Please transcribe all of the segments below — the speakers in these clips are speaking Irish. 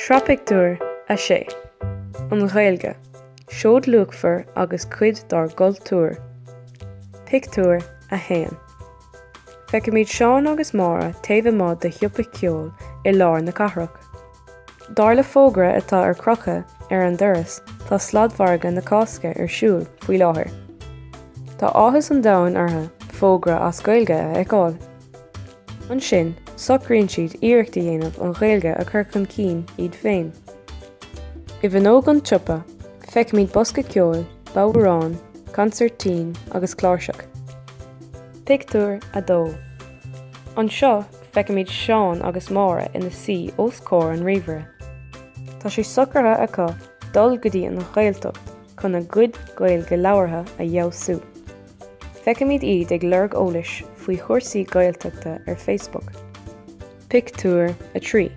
Sraith Pictiúr 6 An Ghaeilge, Seoid luachmhar agus cuid dár gcultúr Pictiúr 1 Feicimid Seán agus Máire taobh amuigh de shiopa ceoil i lár na cathrach. Dar le fógra atá ar crochadh ar an doras tá sladmhargadh na Cásca ar siúl faoi láthair. Tá áthas an domhain orthu fógra as Gaeilge a fheiceáil. Ansin, socraíonn siad iarracht a dhéanamh an Ghaeilge a chur chun cinn iad féin. I bhfuinneog an tsiopa, feicimid bosca ceoil, bodhráin, consairtín agus cláirseach. Pictiúr 2. Anseo, feicimid Seán agus Máire ina suí os comhair an ríomhaire. Tá sé socraithe acu dul go dtí an Ghaeltacht chun a gcuid Gaeilge labhartha a fheabhsú. Feicimid iad ag lorg eolais faoi chúrsaí Gaeltachta ar Facebook. Pictiúr 3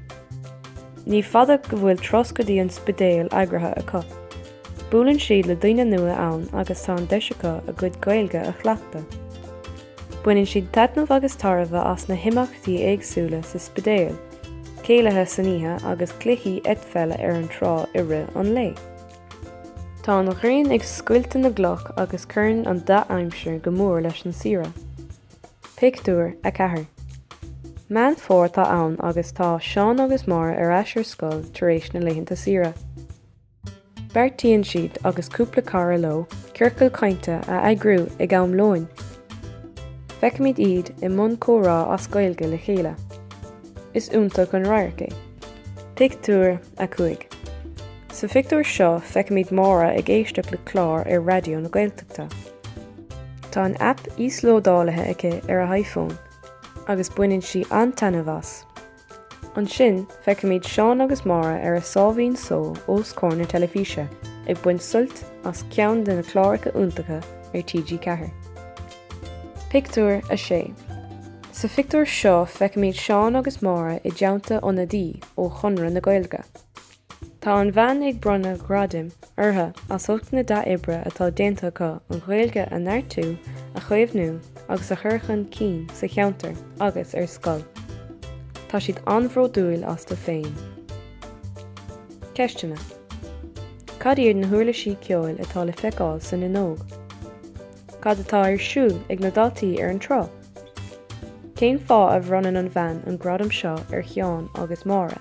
Ní fada go bhfuil turas go dtí an Spidéal eagraithe acu. Buaileann siad le daoine nua ann agus tá an deis acu a gcuid Gaeilge a chleachtadh. Baineann siad taitneamh agus tairbhe as na himeachtaí éagsúla sa Spidéal, céilithe san oíche agus cluichí eitpheile ar an trá i rith an lae. Tá an ghrian ag scoilteadh na gcloch agus cuireann an dea-aimsir go mór leis an saoire. Pictiúr 4 Meán Fómhair atá ann agus tá Seán agus Máire ar ais ar scoil tar éis na laethanta saoire. Beartaíonn siad agus cúpla cara leo ciorcal cainte a eagrú ag am lóin. Feicimid iad i mbun comhrá as Gaeilge le chéile. Is iontach an radharc é. Pictiúr 5 Sa phictiúr seo feicimid Máire ag éisteacht le clár ar Raidió na Gaeltachta. Tá an aip íoslódálaithe aici ar a hiPhone agus baineann sí an-taitneamh as. Ansin feicimid Seán agus Máire ar a sáimhín só os comhair na teilifíse ag baint suilt as ceann de na cláracha iontacha ar TG4. Pictiúr 6 Sa phictiúr seo feicimid Seán agus Máire i dteannta ionadaí ó Chonradh na Gaeilge. Tá an bhean ag bronnadh gradaim orthu as ucht na dea-oibre atá déanta acu an Ghaeilge a neartú, a chaomhnú agus a chur chun cinn sa cheantar agus ar scoil. Tá siad an-bhródúil astu féin. Ceisteanna Cad iad na huirlisí ceoil atá le feiceáil san fhuinneog? Cad atá ar siúl ag na daltaí ar an trá? Cén fáth a bhronnann an bhean an gradam seo ar Sheán agus Máire?